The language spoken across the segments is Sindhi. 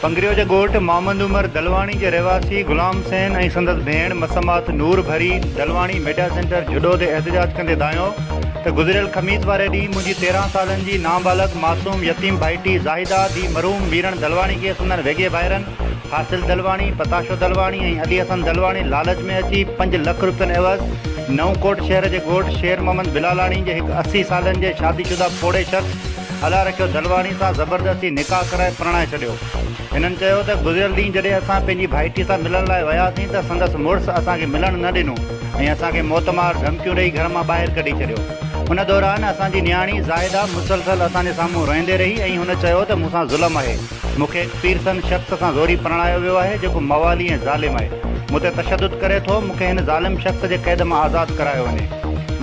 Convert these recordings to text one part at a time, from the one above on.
پنگريو جي ڳوٺ محمد عمر دلواڻي جي رهواسي غلام حسين ۽ سندس ڀيڻ مسمات نور ڀري دلواڻي ميڊيا سينٽر جهڏو تي احتجاج ڪندي دانهيو ته گذريل خميس واري ڏينهن منهنجي تيرهن سالن جي نابالغ معصوم يتيم ڀائٽي زاهده ڌيء مرحوم ميرڻ دلواڻي کي سندن ويڳي ڀائرن حاصل دلواڻي، پتاشو دلواڻي ۽ علي حسن دلواڻي لالچ ۾ اچي پنج لک روپين عيوض نئون ڪوٽ شهر جي ڳوٺ شير محمد بلالاڻي جي هڪ اسي سالن جي شادي شده پوڙهي شخص الله رکيو دلواڻي سان زبردستي نڪاح ڪرائي پرڻائي ڇڏيو. هنن چيو ته گذريل ڏينهن جڏهن اسان پنهنجي ڀائٽي سان ملڻ لاء وياسين ته سندس مڙس اسان کي ملڻ نه ڏنو ۽ اسان کي موت مار ڌمڪيون ڏئي گهر مان ٻاهر ڪڍي ڇڏيو. ان دوران اسان جي نياڻي زاهده مسلسل اسان جي سامهون روئيندي رهي ۽ هن چيو ته مون سان ظلم آهي، مون کي هڪ پيرسن شخص سان زوري پرڻايو ويو آهي جيڪو موالي ۽ ظالم آهي، مون تي تشدد ڪري ٿو، مون کي هن ظالم شخص جي قيد مان آزاد ڪرايو وڃي.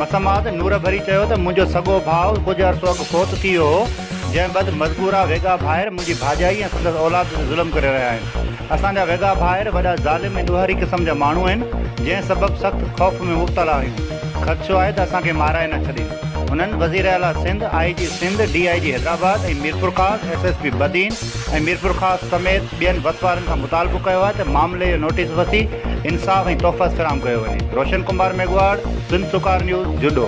مسمات نور ڀري چيو ته منهنجو سڳو ڀاء ڪجهه عرصو اڳ فوت ٿي ويو هو، جنهن بد مذڪوره ويڳا ڀائر منهنجي ڀاڄائي ۽ سندس اولاد تي ظلم ڪري رهيا آهن. اسان جا ويڳا ڀائر وڏا ظالم ۽ ڏوهاري قسم جا ماڻهو آهن، جنهن سبب سخت خوف ۾ مبتلا آهيون. خدشو آهي ته اسان کي مارائي نه ڇڏين. هنن وزيراعليٰ Sindh, I G Sindh, D I G Hyderabad ۽ Mirpurkhas, S S P Badin ۽ Mirpurkhas سميت ٻين وسوارن کان مطالبو ڪيو آهي ته معاملي جو نوٽيس وسي انصاف ۽ تحفظ فراهم ڪيو وڃي. روشن ڪمار ميگهواڙ، سنڌسرڪار نيوز، جهڏو.